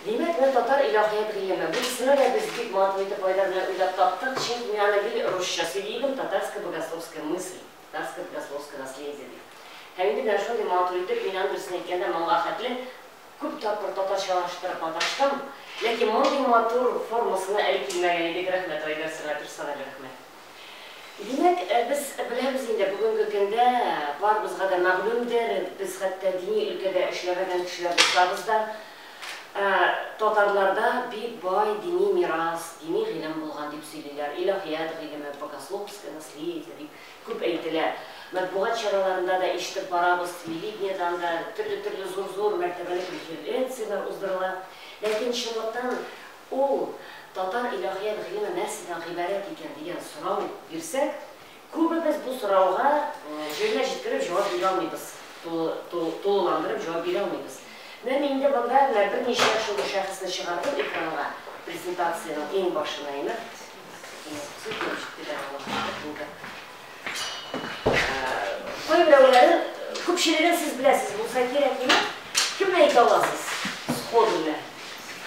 Димәк, бу татар илаһият гыйлеме. Бу исемне дә без бик матур итеп Айдар белән уйлап таптык, чөнки мин аны гел русча сөйли идем, татарская богословская мысль, татарское богословское наследие дип. Һәм инде менә шундый матур итеп, мин аны, дөресен әйткәндә, моңа хәтле күп тапкыр татарчалаштырып маташтым, ләкин мондый матур формасына әле килмәгән идек, рәхмәт, Айдар, сиңа персональ рәхмәт. Димәк, без беләбез инде, бүгенге көндә барыбызга да мәгълүмдер, без хәтта дини өлкәдә эшләмәгән кешеләр булсабыз да, татарларда бик бай дини мирас, дини гыйлем булган дип сөйлиләр, илаһият гыйлеме, богословское наследие дип күп әйтелә. Матбугат чараларында да ишетеп барабыз, телевидениедән дә төрле-төрле зур-зур мәртәбәле конференцияләр уздырыла. Ләкин чынлыктан Ул, Татар илаһият гыйлеме нәрсәдән гыйбарәт икән? дигән сорау бирсәк, күбебез бу сорауга җиренә җиткереп җавап бирә алмыйбыз, тулыландырып җавап бирә алмыйбыз. Менә мин инде монда менә берничә шундый шәхесне чыгардым экранга, презентациянең иң башына инеп. Исемсез булып җитте дә аллаһы шөкер, инде. Кайберәүләрен, күпчелеген сез беләсез, булса кирәк, миңа кемне әйтә аласыз сходу белән?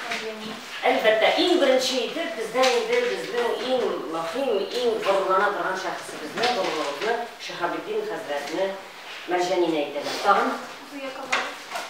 Әбиемне. Әлбәттә, иң беренче итеп бездән инде безнең иң мөһим, иң горурлана торган шәхесебезне, горурлыгыбызны, Шиһабетдин хәзрәтне, Мәрҗәнине әйтәләр. Тагын? Зөя Камалова.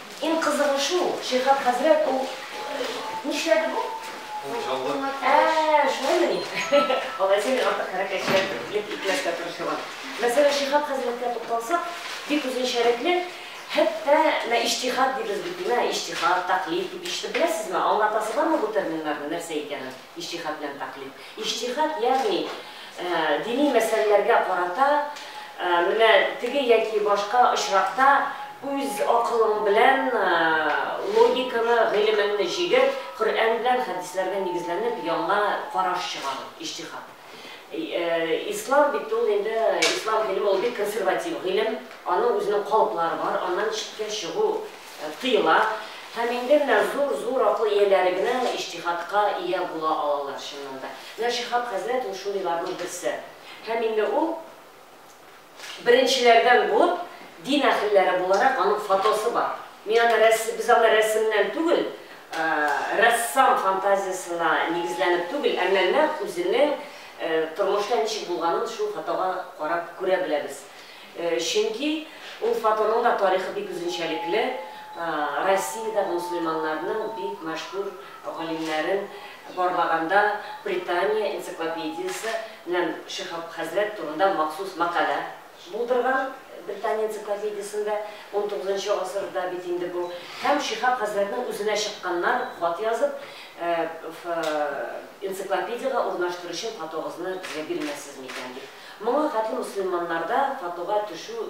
Иң кызыгы шул, Шиһап хәзрәт ул нишләде бу? Кулчалды. Ә, шулаймыни? Алайса мин артык хәрәкәтчән итеп итмәскә тырышырмын. Мәсәлән, Шиһап хәзрәткә тукталсак, бик үзенчәлекле, хәтта менә иҗтиһад дибез бит, менә иҗтиһад, тәкълид дип ишетеп беләсезме? Аңлатасы бармы бу терминнарның нәрсә икәнен, иҗтиһад белән тәкълид? Иҗтиһат, ягъни дини мәсьәләләргә карата менә теге яки башка очракта үз акылың белән логиканы, гыйлемеңне җигеп, Коръән белән хәдисләргә нигезләнеп яңа караш чыгару, иҗтиһат. Ислам бит ул инде, ислам гыйлеме ул бик консерватив гыйлем, аның үзенең калыплары бар, аннан читкә чыгу, тыела һәм инде менә зур-зур акыл ияләре генә иҗтиһадка ия була алалар, чыннан да. Менә Шиһаб хәзрәт ул шундыйларның берсе. Һәм инде ул беренчеләрдән булып, дин әһелләре буларак, аның фотосы бар. Мин аны рәс, без аны рәсемнән түгел, рәссам фантазиясына нигезләнеп түгел, әмма нәкъ үзенең тормышта ничек булганын шул фотога карап күрә беләбез. Чөнки ул фотоның да тарихы бик үзенчәлекле, Россиядәге мөселманнарның бик мәшһүр галимнәрен барлаганда Британия энциклопедиясе белән Шиһаб хәзрәт турында махсус мәкалә булдырган Британия энциклопедиясендә, унтугызынчы гасырда бит инде бу, һәм Шиһаб хәзрәтнең үзенә чыкканнар хат язып, энциклопедиягә урнаштыру өчен фотогызны безгә бирмәссез микән дип. Моңа кадим мөселманнарда татуга төшү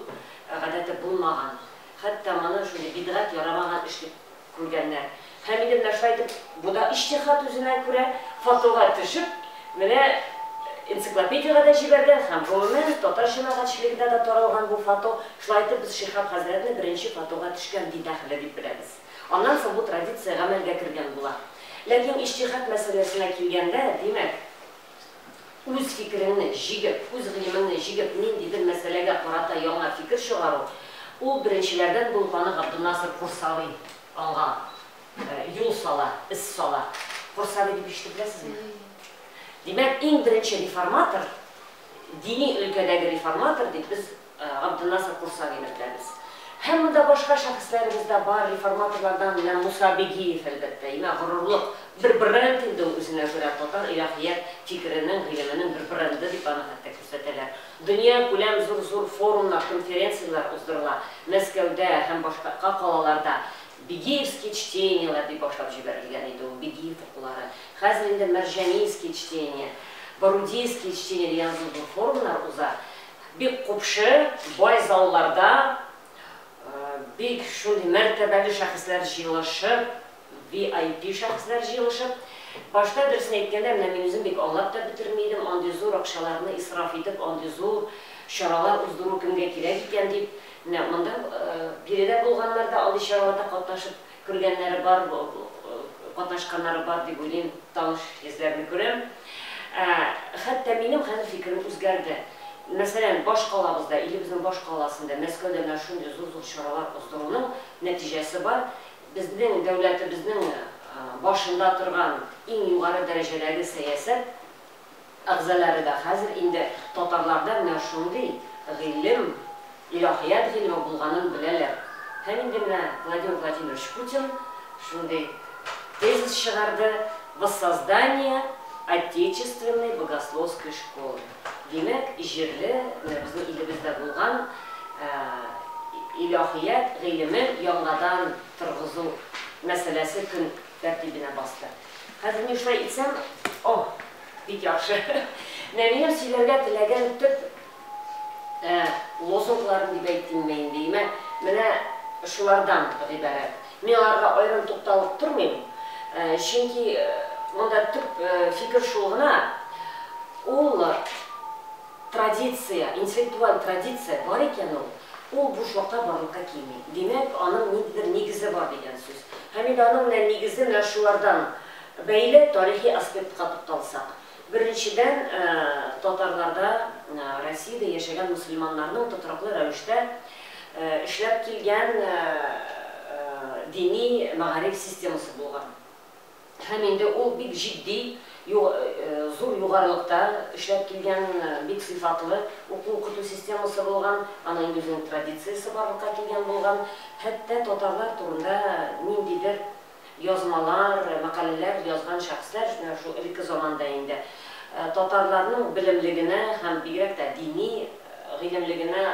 гадәте булмаган, хәтта моны шундый бидгать, ярамаган эш дип күргәннәр. Һәм инде менә шулай итеп, бу да иҗтиһат үзенә күрә, татуга төшеп, менә энциклопедиягә дә җибәргән һәм, гомумән, татар җәмәгатьчелегенә дә таралган бу фату, шулай итеп без Шиһаб хәзрәтне беренче татуга төшкән бидәгъле дип беләбез. Аннан соң бу традиция гамәлгә кергән була. Ләкин иҗтиһат мәсьәләсенә килгәндә, димәк, үз фикереңне җигеп, үз гыйлемеңне җигеп, ниндидер мәсьәләгә карата яңа фикер чыгару, ул беренчеләрдән булганы Габдунасыр Курсави аңа юл сала, эз сала. Курсави дип ишетеп беләсезме? Димәк, иң беренче реформатор, дини өлкәдәге реформатор дип без Габденнасыр Курсави мәктәбез. Һәм монда башка шәхесләребез дә бар, реформаторлардан менә Муса Бигиев, әлбәттә, имә горурлык, бер бренд инде ул үзенә күрә, татар илаһият фикеренең, гыйлеменең бер бренды дип аны хәтта күрсәтәләр. Дөньякүләм зур-зур форумнар, конференцияләр уздырыла, Мәскәүдә һәм башкака калаларда Бигиевские чтенияләр дип башлап җибәрелгән иде ул, Бигиев укулары. Хәзер инде Мәрҗанийские чтения, Борудийские чтения дигән зур-зур форумнар уза. Бик купшы, бай залларда бик шундый мәртәбәле шәхесләр җыелышып, VIP шәхесләр җыелышып. Башта, дөресен әйткәндә, менә мин үзем бик аңлап та бетерми идем, андый зур акчаларны исраф итеп, андый зур чаралар уздыру кемгә кирәк икән дип. Менә монда биредә булганнар да андый чараларда катнашып. Күргәннәре бар, катнашканнары бар дип уйлыйм, таныш йөзләрне күрәм. Ә, хәтта минем хәзер фикерем үзгәрде. Мәсәлән, баш калабызда, илебезнең баш каласында, Мәскәүдә менә шундый зур-зур чаралар уздыруның нәтиҗәсе бар. Безнең дәүләтебезнең башында торган иң югары дәрәҗәдәге сәясәт әгъзалары да хәзер инде татарларда менә шундый гыйлем, илаһият гыйлеме булганын беләләр. Һәм инде менә Владимир Владимирович Путин шундый тезис чыгарды, Воссоздание Отечественной богословской школы. Димәк, җирле, менә безнең илебездә булган илаһият гыйлемен яңадан торгызу мәсьәләсе көн. тәртибенә басты. Хәзер мин шулай итсәм, о, бик яхшы. Менә минем сөйләргә теләгән төп лозунгларым дип әйтимме инде, имә, менә шулардан гыйбарәт. Мин аларга аерым тукталып тормыйм, чөнки монда төп фикер шул гына, ул, Традиция, интеллектуаль традиция бар икән ул, ул буш вакта барлыкка килми. Димәк, аның ниндидер нигезе бар дигән сүз. Һәм инде аның менә нигезе менә шулардан бәйле тарихи аспектка тукталсак. Беренчедән, татарларда, Россиядә яшәгән мөселманнарның тотрыклы рәвештә эшләп килгән дини мәгариф системасы булган. Һәм инде ул бик җитди, зур югарылыкта эшләп килгән, бик сыйфатлы уку-укыту системасы булган, аның инде үзенең традициясе барлыкка килгән булган. Хәтта татарлар турында ниндидер язмалар, мәкаләләр язган шәхесләр, менә шул элекке заманда инде, татарларның белемлегенә һәм бигрәк тә дини гыйлемлегенә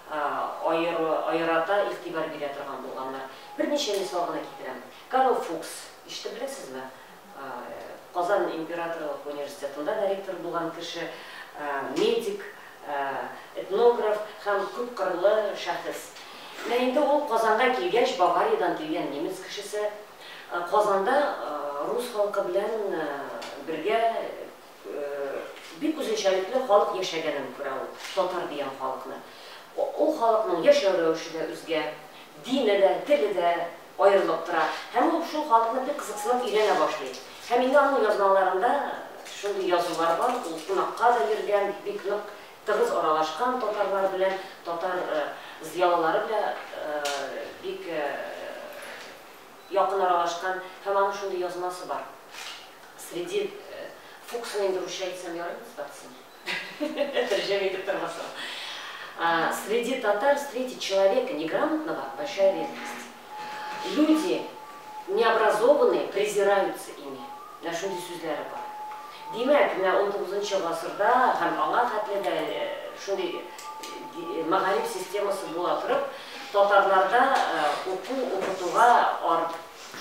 аерата игътибар бирә торган булганнар. Берничә мисал гына китерәм. Карл Фукс, ишетеп беләсезме? Казан императорлык университетында да ректор булган кеше, медик, этнограф һәм күпкырлы шәхес. Менә инде ул Казанга килгәч, Бавариядән килгән немец кешесе Казанда рус халкы белән бергә бик үзенчәлекле халык яшәгәнен күрә ул, татар дигән халыкны. Ул халыкның яшәү рәвеше дә үзгә, дине дә, теле дә аерылып тора һәм ул шул халыкны бик кызыксынып өйрәнә башлый. Һәм инде аның язмаларында шундый язулар бар, ул кунакка да йөргән, бик нык тыгыз аралашкан татарлар белән, татар зыялылары белән бик якын аралашкан һәм аның шундый язмасы бар, среди Фуксның инде русча әйтсәм ярыймы, Сбацин? Тәрҗемә итеп тормасам. Среди татар встретить человека неграмотного большая редкость. Люди необразованные презираются ими. Менә шундый сүзләре бар. Димәк, менә унтугызынчы гасырда һәм аңа хәтле дә шундый мәгариф системасы була торып, татарларда уку, укытуга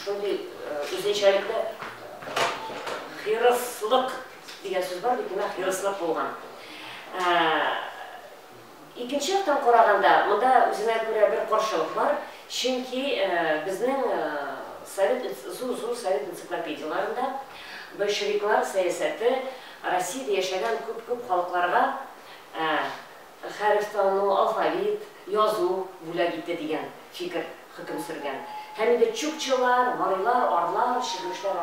шундый үзенчәлекле хирыслык, Дигән сүз бар бит, димәк, юристлык булган. Ә, икенче яктан караганда, монда үзенә күрә бер каршылык бар, чөнки ә, безнең ә, совет энц, зур-зур совет энциклопедияләрендә большевиклар сәясәте Россиядә яшәгән күп-күп халыкларга ә, хәреф тану, алфавит, язу бүләк итте дигән фикер хөкем сөргән. Һәм инде чукчылар, марилар, орлар, чирмешләр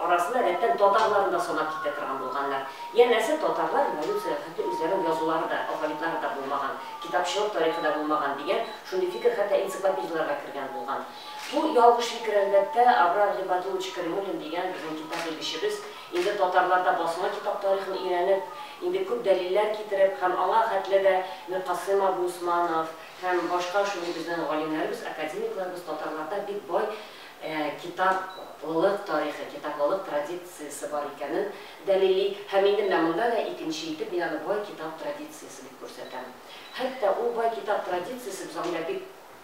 арасында рәттән татарларны да санап китә торган булганнар. Янәсе, татарлар революциягә хәтле үзләренең язулары да, алфавитлары да булмаган, китапчылык тарихы да булмаган дигән шундый фикер хәтта энциклопедияләргә кергән булган. Бу ялгыш фикер, әлбәттә, Абрар Гыйбадуллович Кәримуллин дигән безнең китап белгечебез, Инде татарлар да басма китап тарихын өйрәнеп, инде күп дәлилләр китереп һәм аңа хәтле дә Миркасыйм абый Усманов һәм башка шундый безнең галимнәребез, академикларыбыз татарларда бик бай китаплылык тарихы, китаплылык традициясе бар икәнен дәлилли һәм инде менә монда да икенче итеп мин аны бай китап традициясе дип күрсәтәм. Хәтта ул бай китап традициясе без анда бик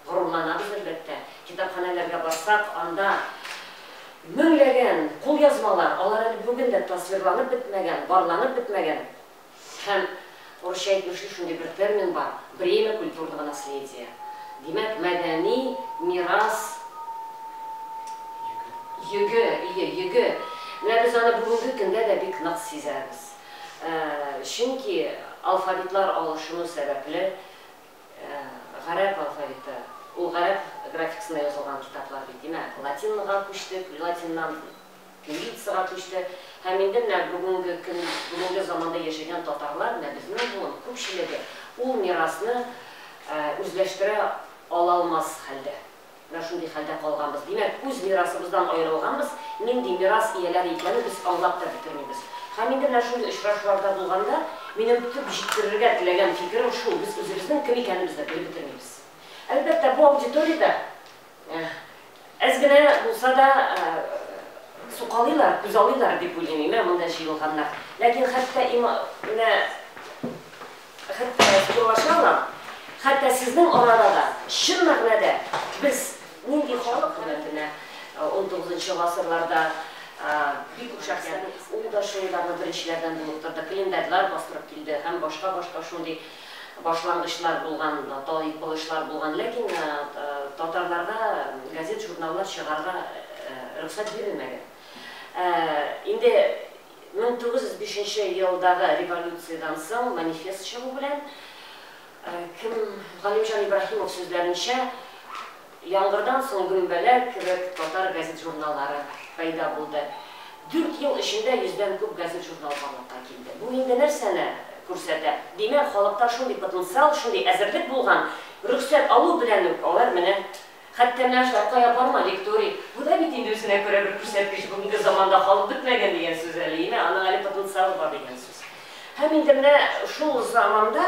горурланабыз, әлбәттә. Китапханәләргә барсак, анда меңләгән кулъязмалар, алар әле бүген дә тасвирланып бетмәгән, барланып бетмәгән һәм урысча әйтмешли, шундый бер термин бар, бремя культурного наследия. Димәк, мәдәни мирас йөге, ие, йөге. Менә без аны бүгенге көндә дә бик нык сизәбез. Чөнки алфавитлар алышыну сәбәпле, гарәп алфавиты, ул гарәп графикасында язылган китаплар бит, димәк, латинга күчтек, латиннан кириллицага күчте, һәм инде менә бүгенге көн, бүгенге заманда яшәгән татарлар, менә безнең буын күпчелеге ул мирасны үзләштерә ала алмас хәлдә. Да шундый хәлдә калганбыз. Димәк, үз мирасыбыздан аерылганбыз, нинди мирас ияләре икәнен без аңлап та бетермибез. Һәм инде менә шундый очрашуларда булганда, минем төп җиткерергә теләгән фикерем шул, без үзебезнең кем икәнебез дә белеп бетермибез. Әлбәттә, бу аудиториядә әз генә булса да сукалыйлар, күзалыйлар дип уйлыйм, имә монда җыелганнар. Ләкин хәтта имә менә Хәтта урлаша ла, хәтта сезнең арада да, чын мәгънәдә, без нинди халык хөрмәтенә ун тугызынчы гасырларда бик охшаш икән, ул да шундагы беренчеләрдән булып торды, календарьлар бастырып килде һәм башка-башка шундый башлангычлар булган, талый-кылышлар булган, ләкин татарларга газет-журналлар чыгарга рөхсәт бирелмәгән. Инде. Мең тугыз йөз бишенче елдагы революциядән соң манифест чыгу белән, кем, Галимҗан Ибраһимов сүзләренчә, яңгырдан соң гөмбәләр кебек татар газет-журналлары пәйда булды. Дүрт ел эчендә йөздән күп газет-журнал барлыкка килде. Бу инде нәрсәне күрсәтә? Димәк, халыкта шундый потенциал, шундый әзерлек булган, рөхсәт алу белән үк алар менә Хәтта менә шулай кая барма, лекторий, бу да бит инде үзенә күрә бер күрсәткеч, бүгенге заманда халык бетмәгән дигән сүз әле, име, аның әле потенциалы бар дигән сүз. Һәм инде менә шул заманда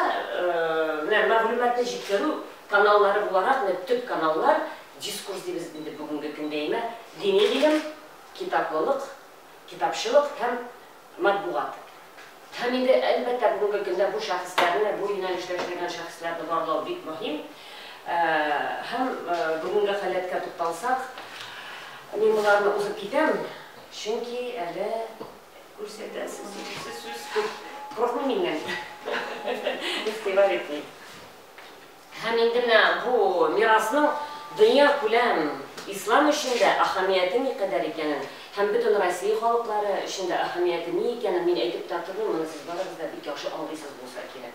менә мәгълүматны җиткерү каналлары буларак, менә төп каналлар, дискурс дибез инде бүгенге көндә, име, дини гыйлем, китаплылык, китапчылык һәм Матбугат. Һәм инде, әлбәттә, бүгенге көндә бу шәхесләрне, бу юнәлештә эшләгән шәхесләрне барлау бик мөһим. Һәм бүгенге халәткә тукталсак, мин боларны узып китәм, чөнки әле күрсәтәсе сүз күп. Курыкмыйм миннән. Игътибар итмим. Һәм инде менә бу мирасның дөньякүләм ислам өчен дә әһәмияте никадәр икәнен һәм бөтен Россия халыклары өчен дә әһәмияте ни икәнен мин әйтеп тә тормыйм, моны сез барыгыз да бик яхшы аңлыйсыз булса кирәк.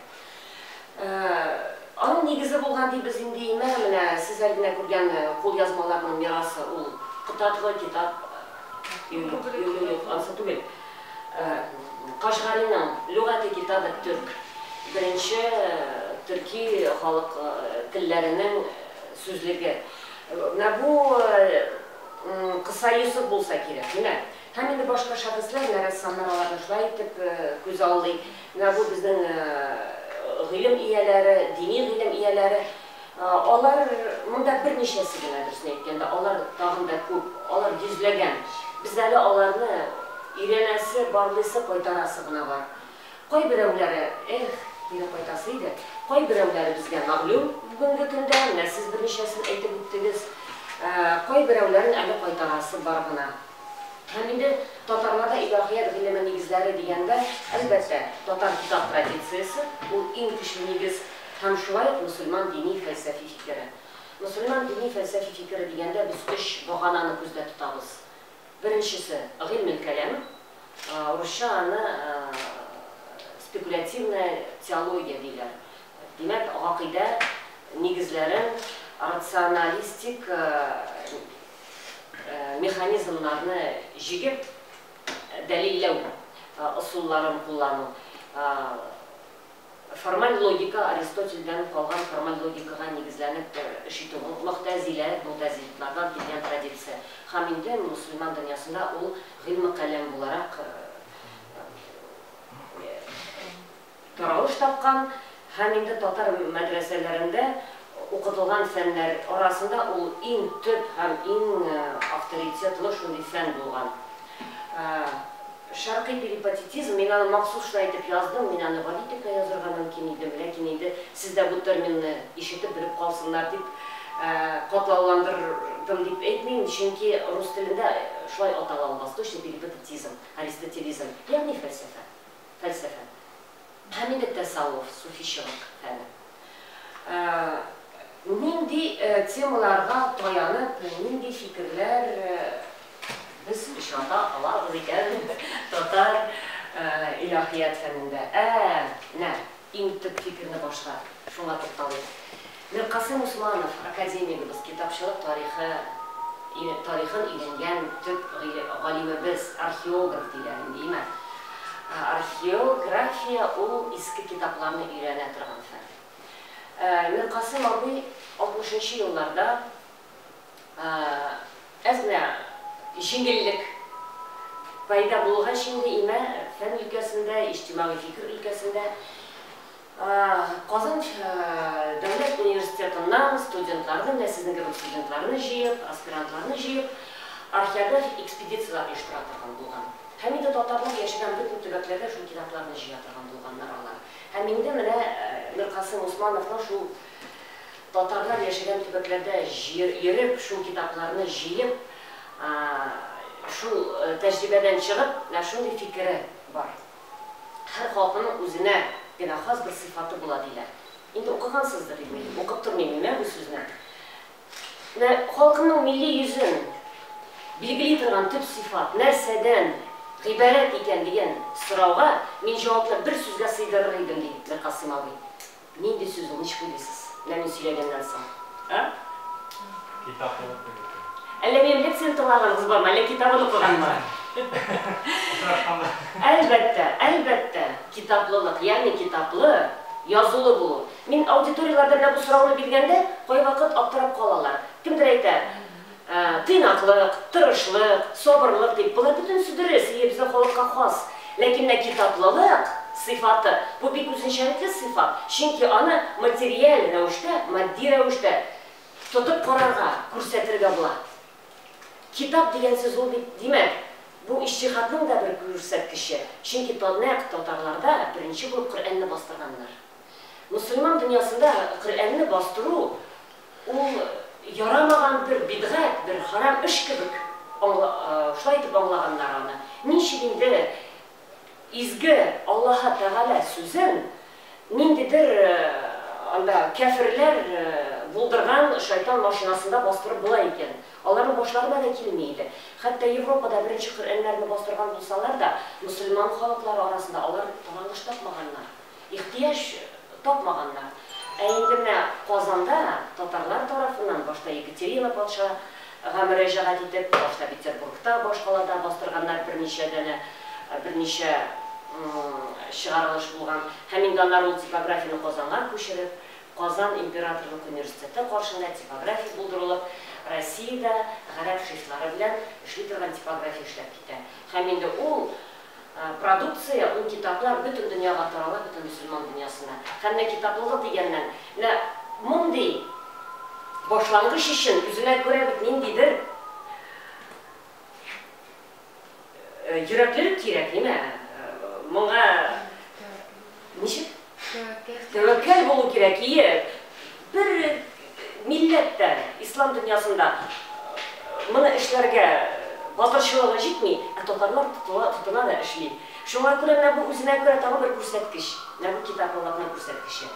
Аның нигезе булган дибез инде име, менә сез әле генә күргән кулъязмаларның мирасы, ул кытатлы китап, юк, юк, юк, ансы түгел. Кашгариның Лөгати китабе төрк, беренче төрки халык телләренең сүзлеге. Менә бу Кыса Йосыф булса кирәк. Менә. Һәм инде башка шәхесләр, менә рәссамнар аларны шулай итеп күзаллый. Менә бу безнең гыйлем ияләре, дини гыйлем ияләре. Алар, монда берничәсе генә, дөресен әйткәндә, алар тагын да күп, алар йөзләгән. Без әле аларны өйрәнәсе, барлыйсы, кайтарасы гына бар. Кайберәүләре, эх, кире кайтасы иде, кайберәүләре безгә мәгълүм бүгенге көндә, менә сез берничәсен әйтеп үттегез. Кайберәүләрен әле кайтарасы бар гына. Һәм инде татарларда илаһият гыйлеме нигезләре дигәндә, әлбәттә, татар китап традициясе, ул иң көчле нигез. Һәм шулай ук мөселман дини-фәлсәфи фикере. Мөселман дини-фәлсәфи фикере дигәндә без өч багананы күздә тотабыз. Беренчесе, гыйльмелкәләм, русча аны спекулятивная теология диләр. Димәк, гакыйдә нигезләрен рационалистик механизмнарны җигеп дәлилләү ысулларын куллану. Формаль логика Аристотельдән калган формаль логикага нигезләнеп эш итү бу могтәзилә, мутазилитлардан килгән традиция һәм инде мөселман дөньясында ул гыйльме-каләм буларак таралыш тапкан һәм инде татар мәдрәсәләрендә Укытылган фәннәр арасында ул иң төп һәм иң авторитетлы шундый фән булган. Шәркый перипатетизм, мин аны махсус шулай итеп яздым, мин аны гади итеп тә язырга мөмкин идем, ләкин инде сез дә бу терминны ишетеп, белеп калсыннар дип, катлауландырдым дип әйтмим, чөнки рус телендә шулай атала ул восточный перипатетизм, аристотелизм, ягъни фәлсәфә. фәлсәфә һәм инде тәсаввыф, суфичылык фәне. Нинди темаларга таянып, нинди фикерләр без очрата алабыз икән татар илаһият фәнендә? Ә-ә-ә, менә иң төп фикерне башта шуңа тукталыйк. Миркасыйм Усманов, академигыбыз, китапчылык тарихы тарихын өйрәнгән төп галимебез, археограф диләр инде, имә. Археография ул иске китапларны өйрәнә торган фән. Миркасыйм абый алтмышынчы елларда әзмә җиңеллек пәйда булгач инде имә фән өлкәсендә, иҗтимагый фикер өлкәсендә Казан дәүләт университетыннан студентларны, менә сезнең кебек студентларны җыеп, аспирантларны җыеп, археографик экспедицияләр оештыра торган булган. Һәм инде татарлар яшәгән бөтен төбәкләргә шул китапларны җыя торган булганнар алар. Һәм инде менә Миркасыйм Усмановның шул Татарлар яшәгән төбәкләрдә йөреп, шул китапларны җыеп, шул тәҗрибәдән чыгып, менә шундый фикере бар. Һәр халкының үзенә генә хас бер сыйфаты була, диләр. Инде укыгансыздыр, дип уйлыйм. Укып тормыйм мин бу сүзне. Менә халкының милли йөзен билгели торган төп сыйфат нәрсәдән гыйбарәт икән дигән сорауга мин җавапны бер сүзгә сыйдырыр идем, ди Миркасыйм абый. Нинди сүз ул, ничек уйлыйсыз? Менә мин сөйләгәннән соң, а? Китап булып белдерде. Әллә минем лекцияне тыңлаганыгыз бармы, әллә китабын укыганмы? Очрашканда. Әлбәттә, әлбәттә, китаплылык, ягъни китаплы, язулы булу. Мин аудиторияләрдә менә бу сорауны биргәндә, кайвакыт аптырап калалар. Кемдер әйтә. Тыйнаклык, тырышлык, сабырлык дип, болар бөтенесе дөрес, ие, безнең халыкка хас. Ләкин менә китаплылык сыйфаты, бу бик үзенчәлекле сыйфат, чөнки аны материаль рәвештә, матди рәвештә тотып карарга, күрсәтергә була. Китап дигән сүз ул бит, димәк, бу иҗтиһатның да бер күрсәткече, чөнки нәкъ татарларда беренче булып Коръәнне бастырганнар. Мөселман дөньясында Коръәнне бастыру Ул ярамаган бер бидгать, бер харам эш кебек аңла, шулай итеп аңлаганнар аны. Ничек инде изге Аллаһы Тәгалә сүзен ниндидер анда кяферләр булдырган шайтан машинасында бастырып була икән? Аларның башларына да килми иде. Хәтта Европада беренче Коръәннәрне бастырган булсалар да, мөселман халыклары арасында алар таралыш тапмаганнар. Ихтыяҗ тапмаганнар. Ә инде менә Казанда татарлар тарафыннан башта Екатерина патша га мөрәҗәгать итеп, башта Петербургта, башкалада бастырганнар, берничә данә, берничә чыгарылыш булган. Һәм инде аннары ул типографияне Казанга күчереп, Казан императорлык университеты каршында типография булдырылып, Россиядә гарәп шрифтлары белән эшли торган типография эшләп китә. Һәм инде ул Продукция, ул китаплар бөтен дөньяга тарала, бөтен мөселман дөньясына. Һәм менә китаплыгы дигәннән, менә мондый башлангыч өчен үзенә күрә бит ниндидер йөрәклелек кирәк, нимә? Моңа Ничек? Тәвәккәл булу кирәк, ие. Бер милләт тә ислам дөньясында моны эшләргә батырчылыгы җитми, ә татарлар тотыла, тотына да эшли. Шуңа күрә менә бу үзенә күрә тагын бер күрсәткеч, менә бу китап Аллаһның күрсәткече.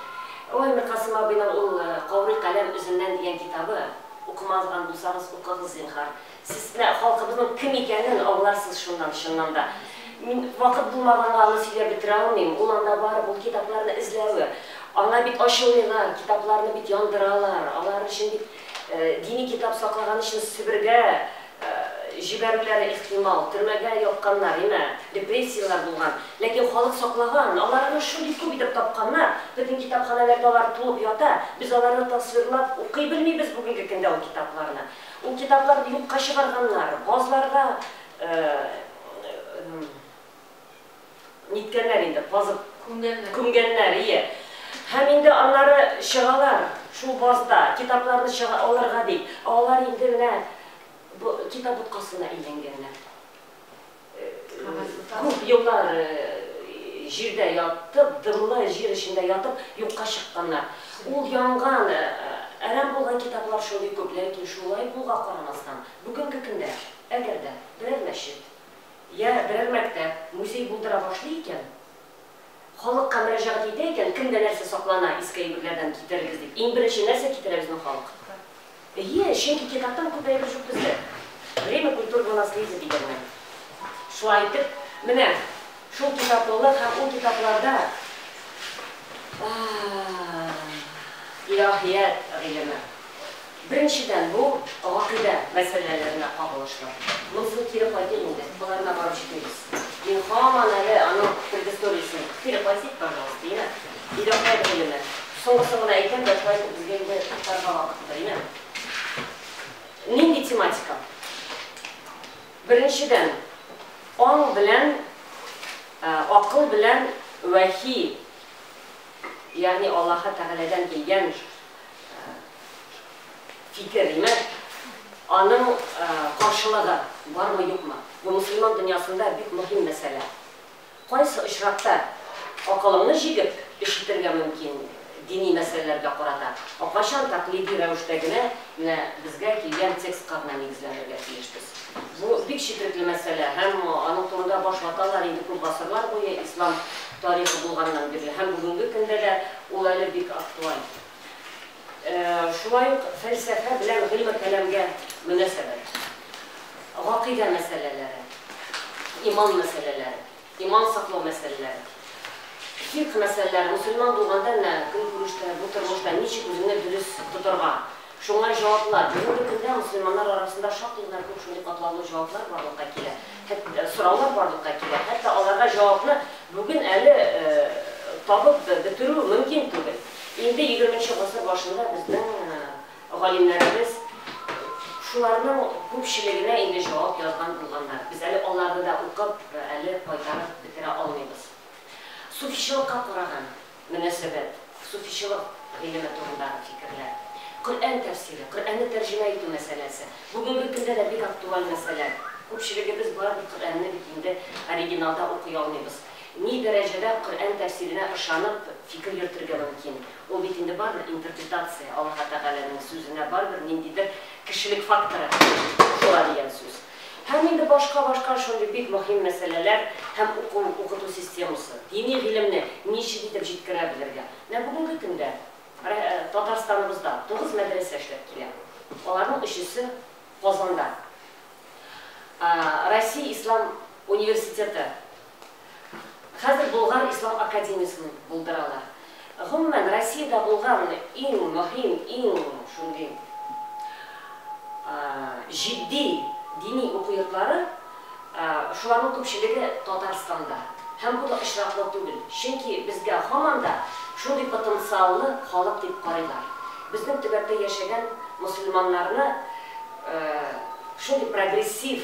Ой, Миркасыйм абыйның ул Каурый каләм өзеннән дигән китабы, укымаган булсагыз, укыгыз, зинһар. Сез менә халкыбызның кем икәнен аңларсыз шуннан, чыннан да. Мин вакыт булмаганга аны сөйләп бетерә алмыйм. Ул анда барып, ул китапларны эзләве. Аңа бит ачулыйлар, китапларны бит яндыралар, алар өчен бит дини китап саклаган өчен Себергә җибәрүләре ихтимал, төрмәгә япканнар, имә, репрессияләр булган. Ләкин халык саклаган, алар аны шундый күп итеп тапканнар, безнең китапханәләрдә алар тулып ята, без аларны тасвирлап укый белмибез бүгенге көндә ул китапларны. Ул китапларны юкка чыгарганнар, казларга ниткәннәр инде, казып күмгәннәр, ие. Һәм инде аннары чыгалар, шул базда китапларны чыга алырга дип, ә алар инде менә бу китап боткасына әйләнгәннәр. Күп еллар җирдә ятып, дымлы җир эчендә ятып, юкка чыкканнар. Ул янган, әрәм булган китаплар шундый күп. Ләкин шулай булга карамастан, бүгенге көндә, әгәр дә берәр мәчет, йә берәр мәктәп, музей булдыра башлый икән, Халыкка мөрәҗәгать итә икән, кемдә нәрсә саклана, иске әйберләрдән китерегез дип, иң беренче нәрсә китерә безнең халык? Әйе, чөнки китаптан күп әйбер җук бездә. Время культурного наследия дигәннән. Шулай итеп, менә шул китаплылык һәм ул китапларда Илаһият гыйлеме. Беренчедән, бу гакыйдә мәсьәләләренә кагылышлы. Монысы кире кайтыйк инде, боларына барып җитмибез. Мин һаман әле аның предысториясен, кире кайтыйк, пожалуйста, име? Илаһият гыйлеме. Соңгысын гына әйтәм дә, шулай итеп безгә инде туктарга вакыттыр, име? Нинди тематика? Беренчедән, аң белән, акыл белән вәхи, ягъни Аллаһы Тәгаләдән килгән, фикерне аның каршылыгы бармы юкмы? Бу мөселман дөньясында бик мөһим мәсьәлә. Кайсы очракта акылыңны җигеп эш итәргә мөмкин дини мәсьәләләргә карата, ә кайчан тәкълиди рәвештә генә менә безгә килгән текстка гына нигезләнергә тиешбез? Бу бик четрекле мәсьәлә һәм аның турында баш ваталар инде күп гасырлар буе, ислам тарихы булганнан бирле һәм бүгенге көндә дә ул әле бик актуаль. Шулай ук фәлсәфә белән гыйльме-кәламгә мөнәсәбәт, гакыйдә мәсьәләләре, иман мәсьәләләре, иман саклау мәсьәләләре, фикъ мәсьәләләре, мөселман булганда менә көнкүрештә, бу тормышта ничек үзеңне дөрес тотарга, Шуңа җаваплар. Бүгенге көндә мөселманнар арасында шактый гына күп шундый катлаулы җаваплар барлыкка килә, хәт сораулар барлыкка килә, хәтта аларга җавапны бүген әле табып бетерү мөмкин түгел. Инде егерменче гасыр башында безнең галимнәребез шуларның күпчелегенә инде җавап язган булганнар. Без әле аларны да укып, әле кайтарып бетерә алмыйбыз. Суфичылыкка караган. мөнәсәбәт, суфичылык гыйлеме турындагы фикерләр, Коръән тәфсире, Коръәнне тәрҗемә итү мәсьәләсе, бүгенге көндә дә бик актуаль мәсьәлә. Күпчелегебез барыбер Коръәнне бит инде оригиналда укый алмыйбыз. Ни дәрәҗәдә Коръән тәфсиренә ышанып фикер йөртергә мөмкин? Ул бит инде барыбер интерпретация, Аллаһы Тәгаләнең сүзенә барыбер ниндидер кешелек факторы кушыла дигән сүз. Һәм инде башка-башка шундый бик мөһим мәсьәләләр һәм уку, укыту системасы, дини гыйлемне ничек итеп җиткерә белергә. Менә бүгенге көндә Татарстаныбызда тугыз мәдрәсә эшләп килә. Аларның өчесе Казанда. Россия ислам университеты Хәзер Болгар ислам академиясен булдыралар. Гомумән, Россиядә булган иң мөһим, иң шундый җитди дини уку йортлары, шуларның күпчелеге Татарстанда. Һәм бу да очраклы түгел, чөнки безгә һаман да шундый потенциаллы халык дип карыйлар. Безнең төбәктә яшәгән мөселманнарны шундый прогрессив